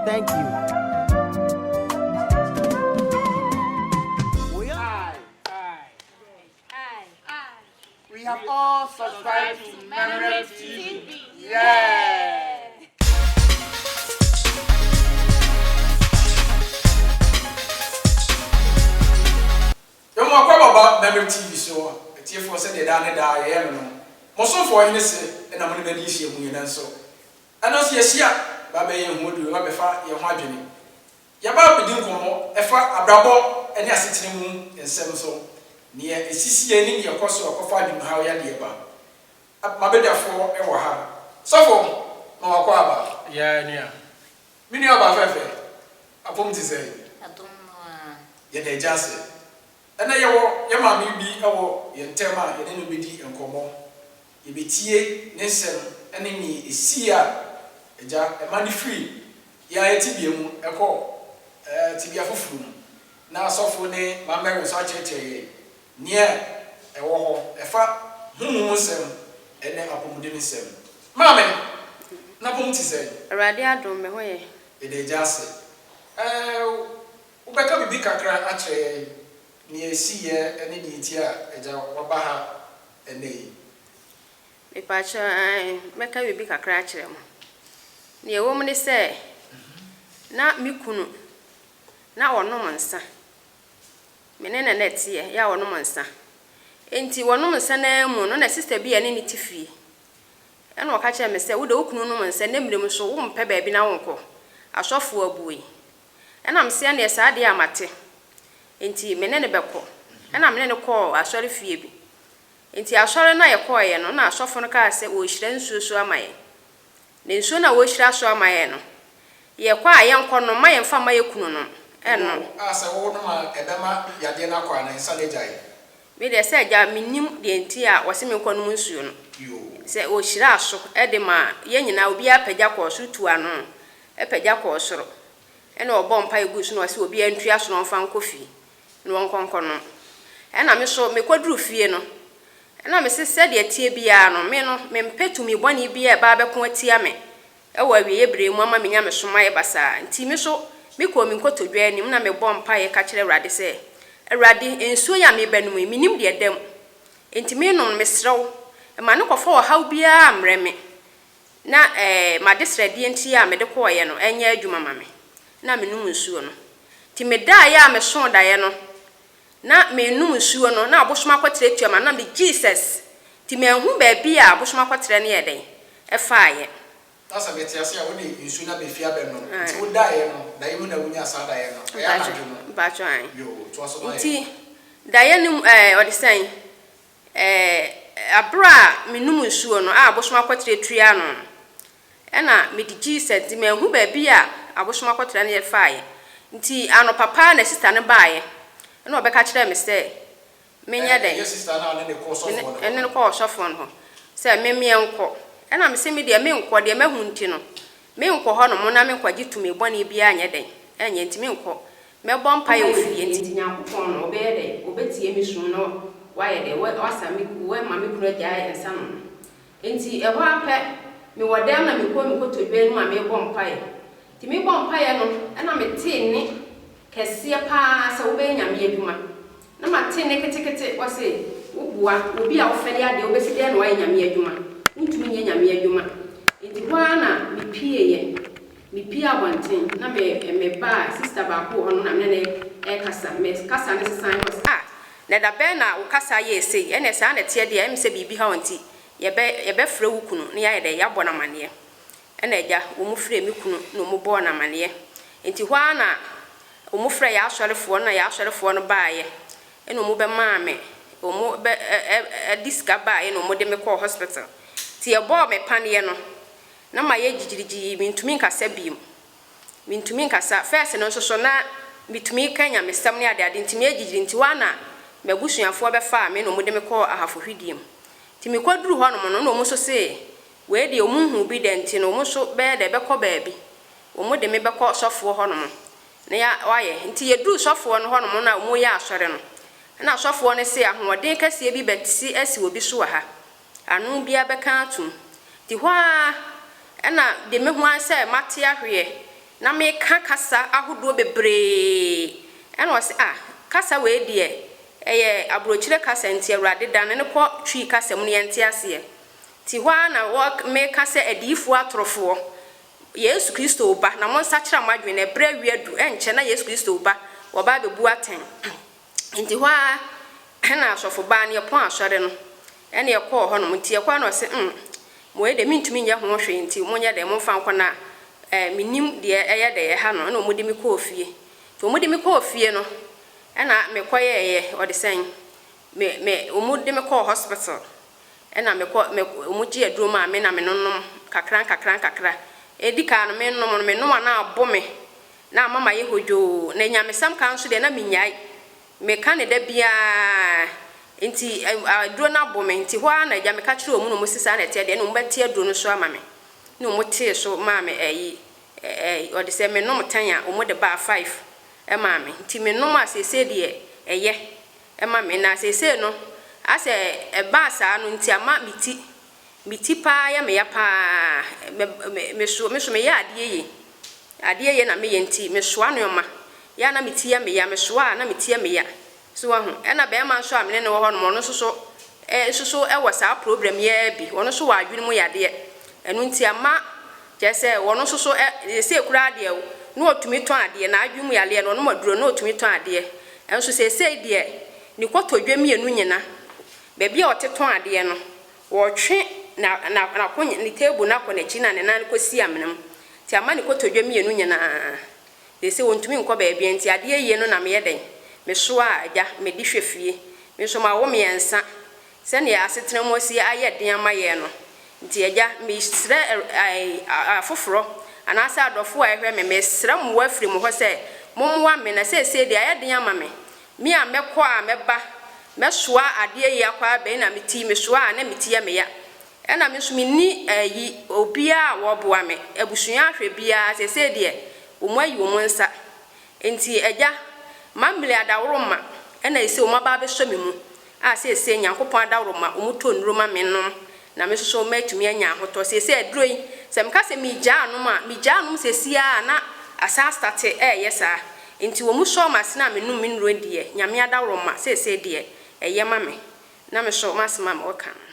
Thank you. We are. I, I, I, I. We have all subscribed to Memory TV. Yeah. Yɛn akɔ baba Memory TV so a, atiefoɔ sɛdeɛ daa ne daa yɛyɛ no no, mo somfoɔ hene se na mo ne n'adi nhyiamu yɛn nso. Ɛno nso yɛhyia ba bɛyɛ yɛn ho aduru na bɛfa yɛn ho adwene. Yɛba abɛdi nkɔmmɔ ɛfa abrabɔ ne asetena mu nsɛm so, nea ɛsisi yɛn ne nea ɛkɔ so a ɛkɔfa adwenemhaw yadeɛ ba. M'abadwafoɔ wɔ ha. Sɔfo, ma wakɔ aba. Yea nua. Me nua ɔbaa fɛfɛ. Apom te sɛn? Adom no ara. Yɛda Agya ase. Ɛnnɛ yɛwɔ yɛn maame bi wɔ yɛn ntam a yɛne no bɛdi nkɔmmɔ. Yɛbɛtie ne nsɛm ne nea ɛsii a Agya ma no firii beaɛ tebea mu kɔɔ tebea foforɔ mu, na asɔfoɔ ne mammɛre nso akyerɛkyerɛ yɛn nea ɛwɔ hɔ ɛfa honhom mu nsɛm ne apɔmuden nsɛm. Maame, n'apɔm te sɛn? Awurade adom, me ho yɛ. Yɛda Agya ase. Ɛɛ, wobɛka biribi kakra akyerɛ yɛn nea ɛsiiɛ ne nea ɛti a Agya waba ha ɛnnɛ yi? Mepakyɛw, ɛɛ, mɛka biribi kakra akyerɛ mo. Nea ɛwom ne sɛ, na me kunu, na ɔnom nsa. Me ne no na ɛteɛ, yɛ a ɔnom nsa. Enti ɔnom nsa no ara mu no, na sista bi a ɛne no te fie. Ɛna ɔka kyerɛɛ me sɛ, Wo de, wo kunu nom nsa, na mmere mu nso, wompɛ baabi na wonkɔ. Asɔfo abue. Ɛnam sɛdeɛ saa adeɛ a mate nti, me ne no bɛkɔ. Ɛnna me ne no kɔɔ asɔrefie bi. Enti asɔre no a yɛkɔeɛ no, na asɔfo no kaa sɛ wɔrehyira nsuo so ama yɛn. Na nsuo no a wɔrehyira so ama yɛn no, yɛkɔ a, yɛnkɔnom. Mma yɛmfa mma yɛn kununom nnom. Mmom a, sɛ wonom a, ɛbɛma yadeɛ no akɔ anaa nsa no agyae. Me deɛ, sɛ agya a, mennim deɛ nti a wɔse menkɔnom nsuo no. Sɛ wɔhyiraa so de maa yɛn nyinaa, obiara pagya kɔɔ soro tuu ano. Ɛpagya kɔɔ soro. Ɛna ɔbɔɔ mpaeɛ guu so na ɔse obiara ntua so na ɔmfa nkɔ fie na wɔnkɔ nkɔnom. Ɛna me nso mekɔduru fie no, ɛna mese sɛdeɛ ɛteɛ biara no, me no mempɛ tumi bɔne biara a ɛba abɛko atia me wɔ awieɛ berɛ yi mu ama menya me somayɛ basaa. Nti me nso mekɔɔ me nkotodwe anim na mebɔɔ mpaeɛ ka kyerɛɛ Awurade sɛ, Awurade, nsuo yi a merebɛnom yi, mennim deɛ ɛda mu. Enti menom no, mesrɛ wo, mma no nkɔfa ɔhaw biara mmrɛ me, Na m'adesrɛdeɛ nti a mede kɔeɛ no nyɛɛ adwuma ma me, na menom nsuo no. Nti medaeɛ a mesoo daeɛ no, na merenom nsuo no, na abosom akɔterɛ tua m'ano, na me, Jesus! Nti manhunu baabi a abosom akɔterɛ no yɛɛ dɛn? Faeɛ. Na sɛ mete ase a, wode nsuo no abɛfie abɛnom. Nti wodaeɛ no, daeɛ mu na wonyaa saa daeɛ no? Ɛyɛ anadwo no? Yoo, toa so ma yɛn. Nti daeɛ no mu ɛɛ, ɔde sɛn? Ɛɛ, bere a menom nsuo no a abosom akɔtrɛ tuaa ano no, ɛna mede Jesus nti manhu baabi a abosom akɔtrɛ no yɛ faeɛ. Nti anɔpa pa ara na sista no baeɛ, ɛna ɔbɛka kyerɛɛ me sɛ menyɛ dɛn? Ɛnyɛ sista no a ɔne no kɔ ɔsɔfoɔ no hɔ? Ɛne no kɔ ɔsɔfoɔ no hɔ sɛ me menkɔ. Ɛna mese me deɛ menkɔ, deɛ mahu nti no, menkɔ hɔnom na menkɔgye tumi bɔne biara nyɛ dɛn? Ɛnyɛ, nti menkɔ. Mɛbɔ mpaeɛ wɔ fie nti Nyankopɔn no ɔbɛyɛ dɛ ɔbɛtie me sum na wayɛ dɛ wasa me wama me kunu agyae nsa nom no. Nti ɛhɔ ara pɛ me wɔ dɛm na me kɔ me kotodwe anim a merebɔ mpaeɛ. Nti me bɔ mpaeɛ no ɛna me tee nne kɛseɛ paa sɛ wo bɛyɛ Nyame adwuma. Na ma te nne ketekete ɔse wo boa wɔ bi a wo fɛre adeɛ wo bɛsi dɛn na wayɛ Nyame adwuma? Wo ntumi nyɛ Nyame adwuma. Nti hɔ ara na me pieeɛ. Mepue abɔnten na me mebaa sista baako wɔ hɔ no na me ne no rekasa. Me kasa no sesae na ɔse, Ah! Na ɛda bɛn na wo kasa yɛɛ sei? Ɛneɛ saa na ɛteɛ deɛ, ɛyɛ me sɛ biribi ha wo nti yɛbɛ yɛbɛfrɛ wo kunu na yɛayɛ dɛn? Yɛabɔ no amaneɛ. Ɛna agya, wɔfrɛɛ me kunu na wɔbɔɔ no amaneɛ. Nti hɔ ara na wɔfrɛɛ yɛn asɔrefoɔ no na yɛn asɔrefoɔ no baeɛ na wɔbɛmaa me, wɔn bɛ ɛ ɛ ɛde sika baeɛ na wɔde me kɔɔ hospital. Nti yɛbɔɔ me paneɛ no, Na mayɛ gyigyirigyii, mentumi nkasa bio. Mentumi nkasa. First no nso so na metumi ka nyamesɛm ne adeade nti meyɛ gyigyiri nti hɔ ara na m'abusuafoɔ bɛfaa me na wɔde me kɔɔ ahafohwidie mu. Nti mekɔduru hɔ nom no na wɔn nso se wei deɛ wɔn nhuu bi da nti no wɔn nso bɛyɛ dɛ bɛkɔ baabi. Wɔn de me bɛkɔ sɔfoɔ hɔ nom na ya wayɛ. Nti yɛduru sɔfoɔ no hɔ nom no a wɔreyɛ asɔre no na sɔfoɔ no se ahoɔden kɛseɛ bi bɛte asi obi so wɔ ha. Ano biara bɛka atom. Te hɔ ara na de me ho ara sɛ mate ahweɛ na meka kasa ahodoɔ bebree. Ɛna ɔse ah kasa wei deɛ ɛyɛ aborɔkyire kasa nti Awurade dane no kɔ Twi kasa mu no yɛnte aseɛ. Te hɔ ara na wɔ meka sɛ adiyifoɔ atorofoɔ Yesu Kristo reba na monsakyera mo adwene ɛberɛ awie adu ɛnkyɛ na Yesu Kristo reba wɔba abɛbu atɛn. Nti hɔ ara na asɔfobaa no yɛpɔn asɔre no na yɛkɔɔ hɔnom. Nti yɛkɔɔ hɔ no na ɔse hmm, wei deɛ mentumi nyɛ ho hwee nti monyɛ dɛn momfa nkɔ na eh, mennim deɛ ɛyɛ dɛ ɛha no. Ɛna wɔde me kɔɔ fie. Nti wɔde me kɔɔ fie no ɛna mekɔyɛɛyɛ ɔde sɛn, me, me, wɔde me kɔɔ hospital ɛna mekɔ, me, wɔgye aduro maa me na menonom kakra nkakra nkakra. Ɛdi kaa no menom no, menoa no a abo me, Na ama mayɛ hodwoo. Na anyamesɛm ka nso deɛ, na mennyae. Meka no da biara. Enti ɛ, aduro no abɔ me. Enti hɔ ara na agya, meka kyerɛɛ wɔn na wɔsi saa na ɛteɛ deɛ, ɛnna wɔbɛte aduro no so ama me. Ɛnna wɔtee so maa me ayi, ɛ, ɛ, wɔde sɛ menom tan a, wɔde baa five maa me. Enti menom a, seesei deɛ, ɛyɛ ma me. Na seesei no, asɛ ɛbaa saa no nti ama me ti, me ti pa ara yɛ me ya pa ara. Me, me, me so, me so meyɛ adeɛ yie. Adeɛ ye na me yɛ nti me soa nnoɔma yɛ a na me ti yɛ me ya me soa a na me ti yɛ me ya so wahu ɛna barima nso a me ne no wɔ hɔ nom ɔno nso so eh nso so wɔ saa problem yi ara bi ɔno nso wɔ adwene mu yadeɛ ɛno nti ama kyerɛ sɛ ɔno nso so eh seesei koraa deɛ na ɔtumi tɔn adeɛ n'adwene mu yareɛ no ɔnom aduro no na ɔtumi tɔn adeɛ ɛnso seesei deɛ ne kɔtɔdwe mmienu nyina baabi a ɔte tɔn adeɛ no. Wɔtwe na na n'akonya ne table no akɔ n'akyi na ne nan kɔ si amena mu nti ama ne kotodwe mmienu nyinaa they say ɔntumi nkɔ baabiara nti adeɛ ayie no na meyɛ dɛn me soa agya me de hwɛ fie me nso mawo mmiɛnsa sɛdeɛ asetena mu asi ayɛ den ama yɛn no nti agya me srɛ ɛɛ afoforɔ anaasɛ adɔfoɔ a ɛhwɛ me me srɛ mmoa firi mo hɔ sɛ mommoa me na seesei deɛ ayɛ den ama me Me a mɛkɔ a mɛba mɛsoa adeɛ yi akɔ abɛn na me ti mesoa a na me ti yɛ me ya ɛna me nso me nni ayi obiara a wɔboa me abusua ahwɛ biara seesei deɛ wɔn ayi wɔn nsa nti agya mammile adaworoma ɛna ɛsei wɔn aba abɛsɔ me mu a seesei Nyankopɔn adaworo ma wɔtɔ nnuro ma me nom na me nso so m'atumi anya ahotɔ seesei aduro yi sɛ meka sɛ megyaa nom a megyaa nom seesei ara na asan astate ɛɛyɛ saa nti wɔn sɔɔ m'asene a menom me nnuro deɛ Nyame adaworo ma seesei deɛ ɛyɛ ma me na me so m'asem a mewɔ kan no.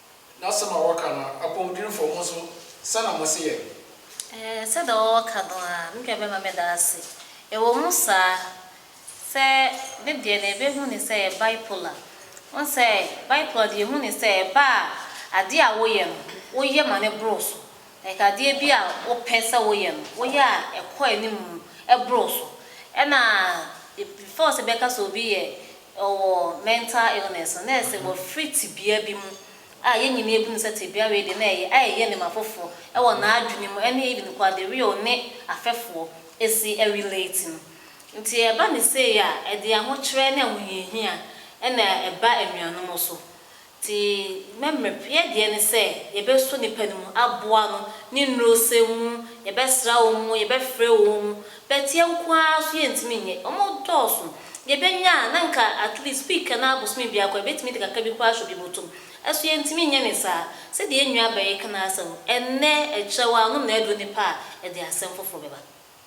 N'asɛm a wɔka no apɔmudwirifo, mo nso sɛ na mose yɛn? Ɛɛ, sɛdeɛ wɔka no ara, me deɛ mɛma meda ase. Ɛwɔ mu saa sɛ me deɛ na ɛbɛhu no sɛ ɛyɛ bipolar. Wohu sɛ bipolar deɛ yɛhu no sɛ ɛba a, adeɛ a woyɛ no, woyɛ ma no boro so. Like adeɛ bi a wopɛ sɛ woyɛ no, woyɛ a ɛkɔ anim boro so. Ɛna before sɛ bɛka sɛ obi yɛ ɔwɔ mental illness no, na ɛsɛ wɔfiri tebea bi mu a yɛn nyinaa bu no sɛ tebea wei deɛ na ɛyɛ a ɛyɛ nneɛma foforɔ wɔ n'adwene mu ne even koraa the way ɔne afɛfoɔ si relate no. Nti ɛba no sei a, ɛde ahokyerɛ ne ahohiahia na ɛba anuanom so. Te mmɛmmerɛp yɛ deɛ ne sɛ yɛbɛsɔ nipa no mu, aboa no, ne nnurosɛm mu, yɛbɛsra wɔn mu, yɛbɛfrɛ wɔn mu, but yɛn nko ara nso yɛntumi nyɛ. Wɔn dɔɔso. Yɛbɛnya a, na nka at least week anaa bosome biako a yɛbɛtumi de kakra bi koraa ahyɛ obi bɔtɔ mu. Ɛso yɛntumi nyɛ ne saa. Sɛdeɛ yɛn nua Barry ka no ara sɛ, ɛnnɛ, ɛkyerɛ wo a, nom na aduro no pɛ a, ɛde asɛm foforɔ bɛba.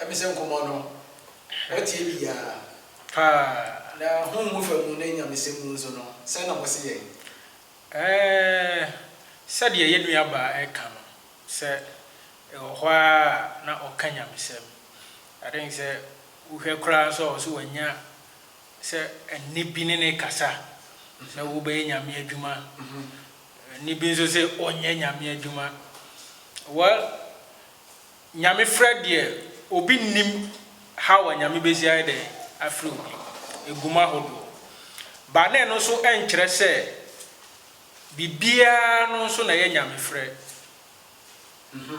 Ɛme sɛ nkɔmmɔ no wɔatie biaa paa na hom mu fa mu ne nyamesɛm mu nso no sɛn na mose yɛn? Ɛɛɛɛ sɛdeɛ yɛ nua baa ɛka no sɛ ɛwɔ hɔ ara a na ɔka nyamesɛm I think sɛ wohwɛ koraa nso a ɔse wanya sɛ ɛnne bi ne ne kasa sɛ wobɛyɛ nyame adwuma ɛnne bi nso se ɔnyɛ nyame adwuma well Nyamefrɛ deɛ obi nnim haw a Nyame bɛdzi ayɛ dɛn afrɛ obi, egu mu ahodoɔ. But na ɛno nso ɛnkyerɛ sɛ biribiara no nso na ɛyɛ Nyamefrɛ. Mm-hmm.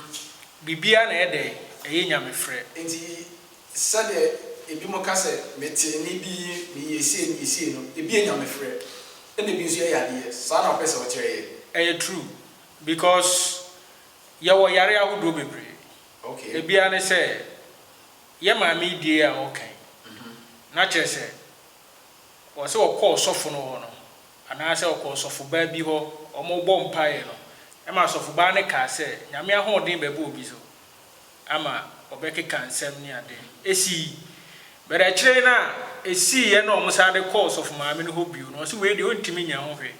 Biribiara na ɛyɛ dɛn? Ɛyɛ Nyamefrɛ. Enti sɛdeɛ ebinom ka sɛ, Metee nne bi, meyɛɛ sei, meyɛɛ sei no, ebi yɛ Nyamefrɛ, ɛna ebi nso yɛ yadeɛ. Saa na wopɛ sɛ wokyerɛ yɛn? Ɛyɛ true. Because Yɛwɔ yare ahodoɔ bebree. Ebiara ne sɛ, yɛ maame yi deɛ yi a ɔreka yi, na kyerɛ sɛ, wɔ sɛ ɔkɔ ɔsɔfo no hɔ no, anaasɛ ɔkɔ ɔsɔfobaa bi hɔ, wɔrebɔ mpaeɛ no, ɛma asɔfobaa no kaa sɛ, Nyame ahoɔden bɛba obi so. ama wɔbɛkeka nsɛm ne ade. Esii. But akyire no a esiiɛ na wɔn san de kɔɔ Sɔfo Maame no hɔ bio no, ɔse wei deɛ ɔntumi nya ho hwɛ.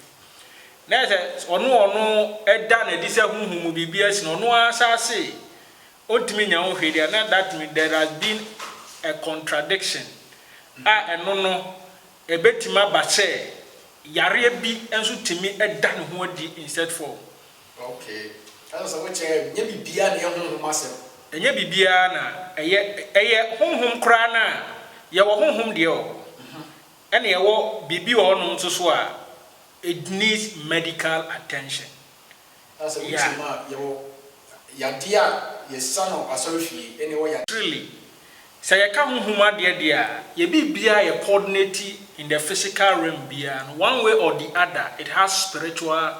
Na ɛsɛ ɔno ɔno ɛda no adi sɛ honhom mu biribi asi no, ɔno ara saa se ɔntumi nya ho hwee deɛ a, na that means there has been a contradiction a ɛno no ɛbɛtumi aba sɛ yareɛ bi nso tumi da ne ho adi in set form. Ok. Ɛsɛ sɛ wokyɛ yɛn. Nyɛ biribiara na ɛyɛ honhom asɛm. Ɛnyɛ biribiara na ɛyɛ, ɛyɛ honhom koraa no a, yɛwɔ honhom deɛ wɔ hɔ, ɛna yɛwɔ biribi wɔ hɔnom nso so a, it needs medical attention. Na sɛ wotie mu a, yɛwɔ yadeɛ a yɛsa no asɔrefie, ɛna yɛwɔ yadeɛ. Really. Sɛ yɛka honhom adeɛ deɛ a, yɛ biribiara a yɛ coordinate in the physical realm biara no, one way or the other, it has spiritual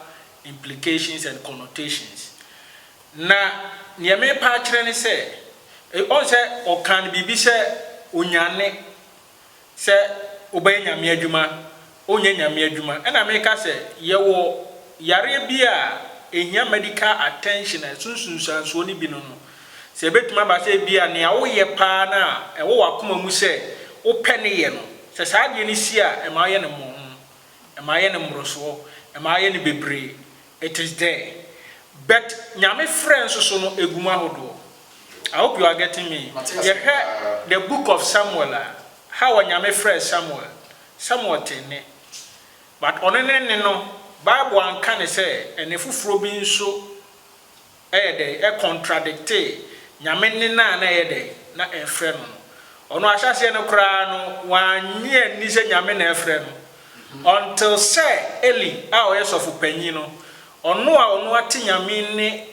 implications and connotations. Na neɛ merepa akyerɛ ne sɛ, ɔhu sɛ ɔkaa no biribi sɛ onyane, sɛ wobɛyɛ Nyame adwuma, wonyɛ Nyame adwuma. Ɛna mereka sɛ, yɛwɔ yareɛ bi a ɛhia medical attention a ɛso nsunsuansoɔ no bi no no, sɛ ɛbɛtumi aba sɛ ebia nea woyɛ paa no a ɛwɔ w'akoma mu sɛ wopɛ ne yɛ no, sɛ saa adeɛ no si a ɛma woyɛ no mmɔho. ɛma ayɛ no mmorosoɔ, ɛma ayɛ no bebree, it is there but Nyame frɛ nso so no ɛgu mu ahodoɔ. I hope you are getting me. Yɛhwɛ the book of Samuel a, how a Nyame frɛɛ Samuel, Samuel tee nne but ɔno ne nne no, Bible anka no sɛ ɛnne foforɔ bi nso. Ɛyɛ dɛn? Ɛkontradiketee Nyame nne no a na ɛyɛ dɛn? Na ɛrefrɛ no no. Ɔno ahyɛaseɛ no koraa no, wannye anni sɛ Nyame na ɛrefrɛ no, until sɛ Eli a ɔyɛ sɔfo panyin no, ɔno a ɔno ate Nyame nne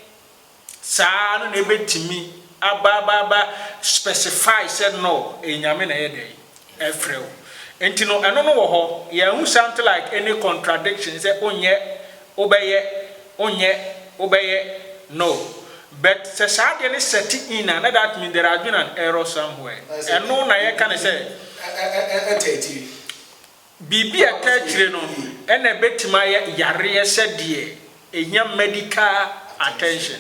saa no na ɛbɛtumi aba aba aba specify sɛ no, ɛyɛ Nyame na ɛyɛ dɛn? ɛfrɛ wo nti no ɛno no wɔ hɔ yɛahu something like any contradiction sɛ onyɛ wobɛyɛ onyɛ wobɛyɛ no but sɛ saa adeɛ no set in a na that means there has been an error somewhere ɛno na yɛka no sɛ biribi a ɛtaa akyire no ɛna ɛbɛtumi ayɛ yareɛ sɛ deɛ ɛhia medical attention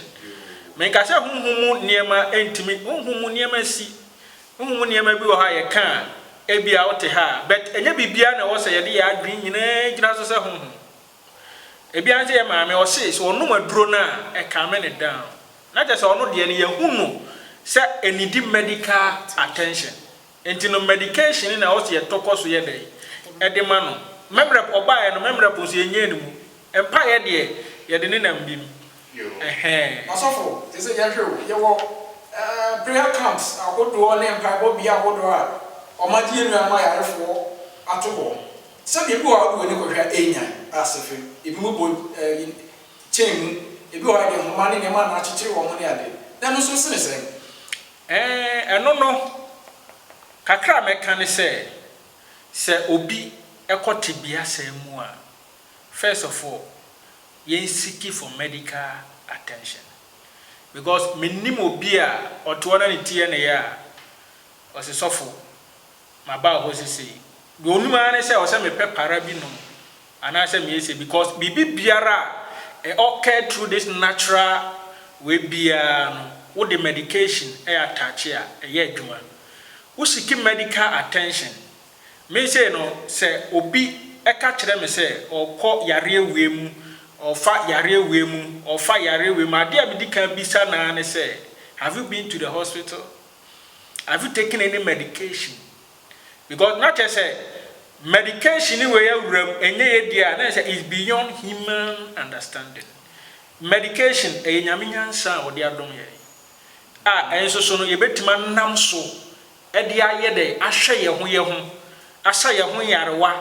menka sɛ honhom mu nneɛma ntumi honhom mu nneɛma si Honhom mu nneɛma bi wɔ hɔ a yɛka a, ebia wote ha, but ɛnyɛ biribiara na ɛwɔ sɛ yɛde yɛn adwene nyinaa gyina so sɛ honhom. Ebi ara ne sɛ yɛn maame, ɔse sɛ ɔnom aduro no a, ɛcalme no down. Na kyerɛ sɛ ɔno deɛ no, yɛahu no sɛ ɛnidi medical attention. Enti no medication no na ɛwɔ sɛ yɛtɔ kɔ so yɛ dɛn? Ɛde ma no. Memerɛp ɔbaeɛ no, memerɛp nso yɛnnyaa ne mu. Mpaeɛ deɛ, yɛde nenam bi mu. Ɛhɛɛ. Asɔfo, te sɛ yɛhwɛ o, yɛwɔ prayer camps ahodoɔ ne mpaebɔ bea ahodoɔ a wɔagye yɛn nuanom ayarefoɔ ato hɔ. Sɛ baabi wɔ hɔ a wode w'ani kɔhwɛ a ɛnya asehwe. Ebinom bɔ kyɛn mu, ebi wɔ hɔ a yɛde nhoma ne nneɛma na akyekyere wɔn ne ade. Na ɛno nso sene sɛn? Ɛɛ, ɛno no, kakra a mɛka ne sɛ, sɛ obi kɔ tebea saa mu a, first of all, yɛn siki for medical attention because me nim obi a ɔte hɔ na ne ti yɛ no ya a ɔse sɔfo ma ba hɔ sesei deɛ onim ara ne sɛ ɔsɛ me pɛ para bi nom anaa sɛ me yɛ sei because biribi biara a ɛ occurred through this natural wei biara no wo de medication ɛ attache a ɛyɛ adwuma wo siki medical attention Me sei no, sɛ obi ka kyerɛ me sɛ ɔrekɔ yareɛ wei mu, ɔrefa yareɛ wei mu, ɔrefa yareɛ wei mu, adeɛ a medi kan bisa no ara ne sɛ, Have you been to the hospital? Have you taken any medication? Because na kyerɛ sɛ medication wei awura mu, ɛnyɛ yɛ deɛ a, na kyerɛ sɛ it's beyond human understanding. Medication, ɛyɛ Nyame nyansa a ɔde adom yɛn, a ɛnso so no yɛbɛtumi anam so de ayɛ dɛ ahwɛ yɛn ho yɛn ho, asa yɛn ho nyarewa.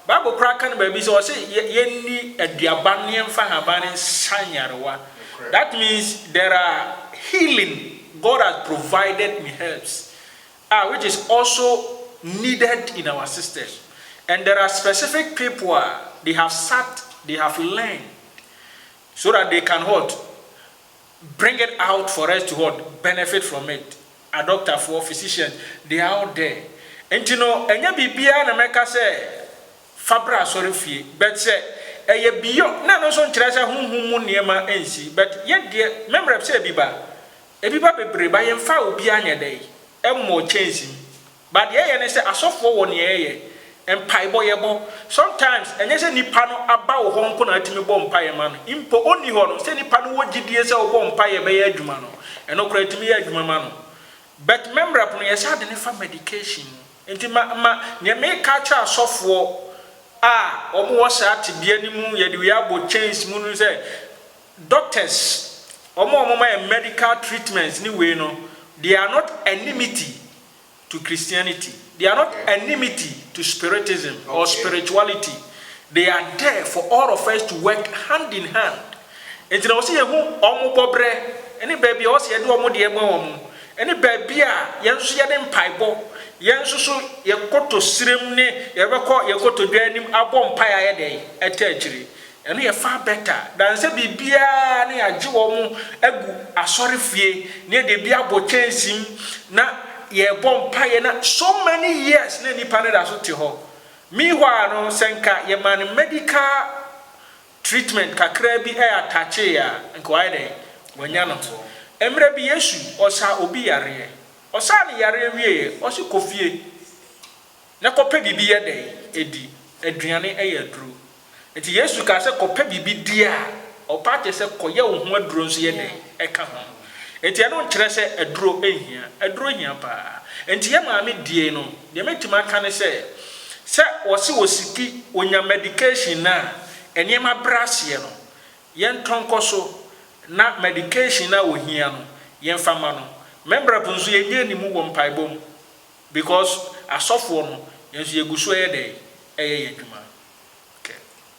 Bible koraa ka no baabi sɛ ɔse yɛnni aduaba no na yɛmfa nhaban no nsa nyarewa. That means there are healing God has provided in herbs a which is also needed in our system and there are specific people a they have sat they have learned so that they can what bring it out for us to what benefit from it. Adɔktafoɔ, physician, they are out there. Nti no, ɛnyɛ biribiara na mɛka sɛ fa bra asɔrefie. But sɛ ɛyɛ beyond, na ɛno nso nkyerɛ sɛ honhom mu nneɛma nsi. But yɛ deɛ, me mmerɛ sɛ ebi ba, ebi ba bebree, but yɛmfaa obiara nyɛ dɛn? Mmɔɔ kyɛnsee mu. But deɛ ɛyɛ ne sɛ asɔfoɔ wɔ neɛ yɛyɛ, mpaebɔ yɛbɔ, sometimes ɛnyɛ sɛ nipa no aba wo hɔ nko na watumi bɔ mpaeɛ ma no, mpo ɔnni hɔ no sɛ nipa no wɔ gyidie sɛ wobɔ mpaeɛ a ɛbɛyɛ adwuma no, ɛno koraa ɛtumi yɛ adwuma ma no. But memrep no yɛsan de no fa medication mu. Nti ma ma neɛ meka akyerɛ asɔfoɔ a wɔn wɔ saa tebea no mu yɛde wei abɔ chains mu no sɛ doctors wɔn a wɔn ma yɛn medical treatments ne wei no they are not enmity to Christianity, they are not enmity to spiritism or spirituality, they are there for all of us to work hand in hand. Nti na wɔsi yɛhu wɔn bɔbrɛ ne baabi a wɔsi yɛde wɔn deɛ ma wɔn ne baabi a yɛn nso yɛde mpaebɔ yɛn nso so yɛkɔtɔ srem ne yɛbɛkɔ yɛkɔtɔ dwa anim abɔ mpae ayɛ dɛn ɛtɛ akyire Ɛno yɛ far better than sɛ biribiara no yɛagye wɔn agu asɔrefie na yɛde ebi abɔ kyɛnsee mu na yɛrebɔ mpaeɛ na so many years na nipa no da so te hɔ. Meanwhile no, sɛ nka yɛmaa no medical treatment kakra bi attacheeɛ a, nka wayɛ dɛn? Wanya ne ho. Mmerɛ bi Yesu ɔsaa obi yareɛ. Ɔsaa no yareɛ wieeɛ, ɔse kɔ fie na kɔpɛ biribi yɛ dɛn? Di. Aduane yɛ aduro. Enti Yesu kaa sɛ, Kɔpɛ biribi di a, ɔpaa kyerɛ sɛ kɔyɛ wo ho aduro nso yɛ dɛn? Ɛka ho. Enti ɛno nkyerɛ sɛ aduro nhia. Aduro hia paa. Enti yɛ maame die no, deɛ mɛtumi aka ne sɛ, sɛ wɔse wɔ sipi, wɔnya medication no a, nneɛma brɛ aseɛ no, yɛntɔ nkɔ so na medication no a wɔhia no, yɛmfa ma no. Mɛmbrɛp nso yɛnyɛ ani mu wɔ mpaebɔ mu because asɔfoɔ no, yɛn nso yɛgu so yɛ dɛn? Yɛ yɛn adwuma. kɛ.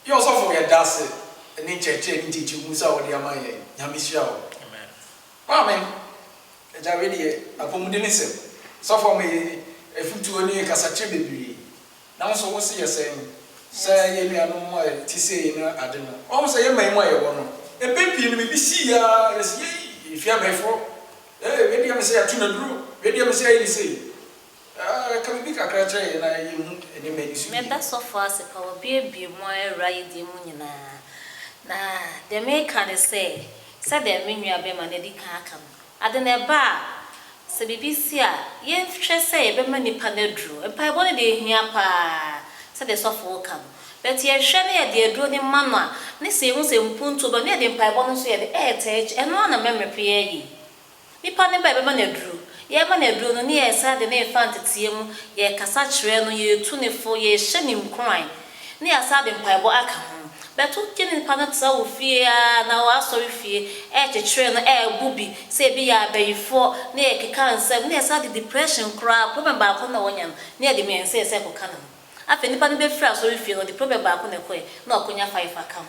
Yɛ ɔsɔfo yɛdase ne nkyerɛkyerɛ ne nkyekyemu sɛ a wɔde ama yɛn Nyame hyira wo. Amen. Amen agya wei deɛ apɔmuden nsɛm sɔfo ama yɛn afutuo ne kasakyerɛ bebree nanso wo se yɛ sɛn sɛ yɛn nuanom a ɛte sei no ade no wahu sɛ yɛn man mu a yɛwɔ no mpɛn pii no biribi si yɛ ara yɛse yei yɛhwɛ abɛɛfoɔ ee wei deɛ mese yɛato no aduro wei deɛ mese ayɛ ne sei Aa ka biribi kakra kyerɛ yɛn na yɛnhu nneɛma a ɛdi so yiye. Meda sɔfo ase pa wɔabuebue mu awura yi deɛ mu nyinaa. Na deɛ meka ne sɛ, sɛdeɛ me nua bɛma no adi kan aka no, ade no ɛba a, sɛ biribi si a, yɛnhwɛ sɛ yɛbɛma nipa no aduro. Mpaebɔ no deɛ ɛhia pa ara sɛdeɛ sɔfo reka no, but yɛhwɛ na yɛde aduro no ma no a, ne sɛ yɛhu sɛ mpuntuo ba no, na yɛde mpaebɔ no nso yɛde ɛɛtaa akyi. Ɛno ara na mɛmɛpɛ yɛayɛ yi. Nnipa no bae bɛma no aduro. Yɛrema no aduro no, ne yɛsan de no refa nteteɛ mu, yɛrekasa kyerɛ no, yɛretu no fo, yɛrehyɛ no nkuran, ne yɛasan de mpaebɔ aka ho. Bɛto gye ne nipa no tra wo fie ara anaa w'asɔrefie rekyekyere no, ɛrebɔ bi, sɛ ebi yɛ abayifoɔ, ne yɛrekeka nsɛm, ne yɛsan de depression koraa, problem baako na ɔnya no, ne yɛde mmiɛnsa ɛsɛ kɔka ne ho. Afei nnipa no bɛfiri asɔrefie no, ɔde problem baako na ɛkɔɛ, na wakɔnya five aka ho.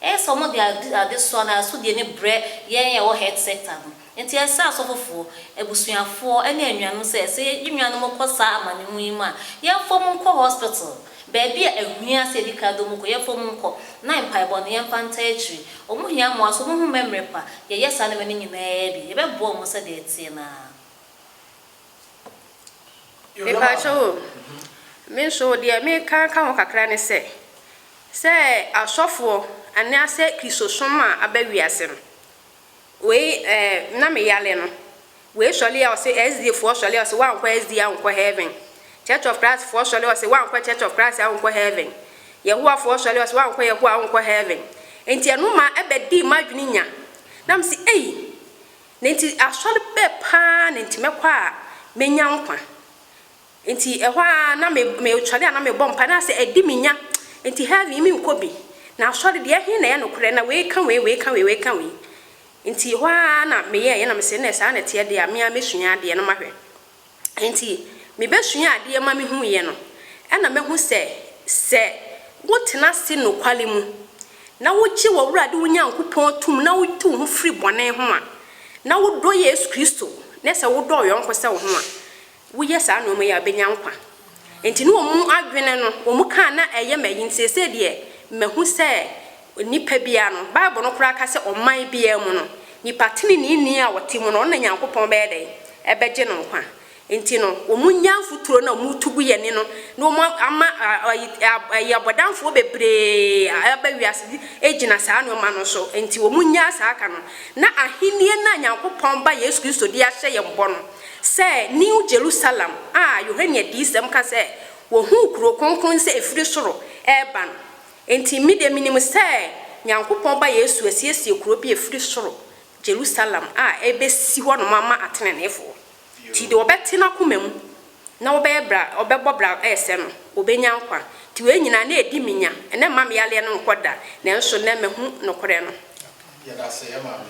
Ɛyɛ sɛ wɔde ade adesoa anaa asodie no brɛ yɛn a yɛwɔ Health Sector no. Enti ɛsrɛ asɔfofoɔ, abusuafoɔ, ne anuanom sɛ, sɛ yɛn nuanom kɔ saa amanehunu yi mu a, yɛmfa wɔn nkɔ hospital. Baabi a ɛhia sɛ yɛdi kan de wɔn kɔ, yɛmfa wɔn nkɔ, na mpaebɔ no, yɛmfa ntaa akyire. Wɔn hia mmoa nso, wɔn ho mmɛmmrɛ pa. Yɛyɛ saa nneɛma no nyinaa bi, yɛbɛboa wɔn sɛdeɛ ɛteɛ no ara. Mepakyɛw o, me nso deɛ meka ka ho kakra ne sɛ, sɛ asɔfoɔ anaasɛ Kristosom a aba wiase no, wei eh, na me yale no, wei sɔre a ɔse SDA foɔ sɔre a ɔse woankɔ SDA a wonkɔ heaven, Church of Christ foɔ sɔre a ɔse woankɔ Church of Christ a wonkɔ heaven, Yehowa foɔ sɔre a ɔse woankɔ Yehowa a wonkɔ heaven, nti ɛno ma ɛbɛdee m'adwene nya, na mese ei! Na enti asɔr bɛ paa na ntsi mɛkɔ a menya nkwa. Ntsi hɔ ara na me mosɔre a na mobɔ mpae na asɛ adi me nya ntsi heaven yi menkɔ bi. Na asɔre deɛ ɛhe na ɛyɛ nokorɛ na wei ka wei wei ka wei wei ka wei. Ntsi hɔ ara na meyɛɛyɛ na mese nɛ saa na ɛteɛ deɛ a me ara mɛsua adeɛ no mahwɛ. Enti mibesua adeɛ ma mihuiɛ no, ɛna mahu sɛ, sɛ wotena ase nokware mu, na wogye w'Awurade wo Nyankopɔn tom na wotu wo ho firi bɔne ho a, na wodɔ Yesu Kristo, ne sɛ wodɔ ɔyɔnko sɛ wo ho a, woyɛ saa nnoɔma yi a, wobɛnya nkwa. Enti ne wɔn adwene no, wɔn kaa na ɛyɛ ma ayi, nti seesei deɛ mahu sɛ Onipa biara no, Bible no koraa ka sɛ ɔman biara mu no, nipa teneneeni a ɔte mu no, ɔno na Nyankopɔn bɛyɛ dɛn? Ɛbɛgye no nkwa. Enti no, wɔnya mfuturo no a wɔretu gu yɛn ani no, na wɔama ayiyabɔdamfoɔ bebree a aba wiase agyina saa nnoɔma no so. Enti wɔnya saa aka no, na ahennie no a Nyankopɔn Ba Yesu Kristo de ahyɛ yɛn bɔ no sɛ New Jerusalem a Yohane Adiyisɛm ka sɛ wɔhuu kuro kronkron sɛ ɛfiri soro reba no, Enti me deɛ menim sɛ Nyankopɔn Ba Yesu asiesie kuro bi ɛfiri soro, Jerusalem, a ɛbɛsi hɔnom ama ateneneefoɔ. Nti deɛ ɔbɛte n'akoma mu na ɔbɛyɛ bra ɔbɛbɔ bra ɛsɛ no, ɔbɛnya nkwa. Nti wei nyinaa na ɛdi me nya, ɛnnɛ mma me yareɛ no nkɔ da, nanso nnɛ mahu nokorɛ no. Yɛda ase yɛ maame.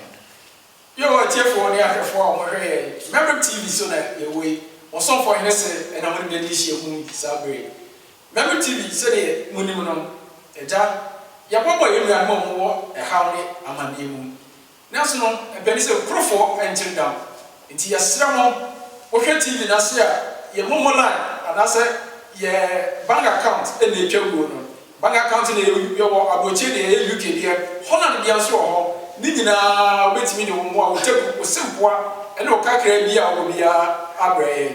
Bio atiefoɔ ne ahwɛfoɔ a wɔhwɛ yɛn Merit TV so na yɛwɔ yi, Ɔsomfoɔ Hene se na mode bɛdi nhyiamu yi saa berɛ yi. Mary TV, Sɛdeɛ monim no, Agya, yɛboaboa yɛn nuanom a wɔwɔ ɛhaw ne amanneɛ mu. Nanso no, ɛbɛ ne sɛ kurofɔ nkyere dam. Enti yɛsrɛ mo, mohwɛ TV no ase a, yɛn momo line anaasɛ yɛn bank account na ɛtwa wuo no. Bank account no yɛ, yɛwɔ aburokyire deɛ, ɛyɛ UK deɛ, Holland deɛ nso wɔ hɔ. Ne nyinaa wobɛtumi de wo mmoa, wo taku, wo sempoa ne wo kakraa bi a wowɔ biara abrɛ yɛn.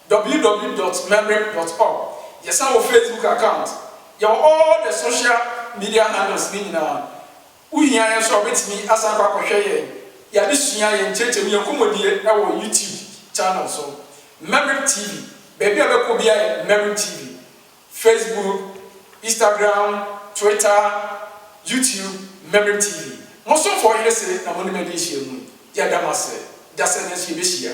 www dot mebrick dot org Yɛsan wɔ Facebook account, yɛwɔ all the social media handles no nyinaa. Wo hia yɛn nso a wobɛtumi asan akɔ akɔhwɛ yɛn yɛn adesua, yɛn nkyerɛkyerɛmu, yɛn nkɔmmɔdie wɔ YouTube channel so, Mebrick TV. Baabi a wobɛkɔ biara yɛ Mebrick TV, Facebook, Instagram, Twitter, YouTube, Mebrick TV. Mo somfoɔ Ɔhene se na mo ne me adi nhyiamu yi. Yɛda mo ase. Dasani nso yɛbɛhyia.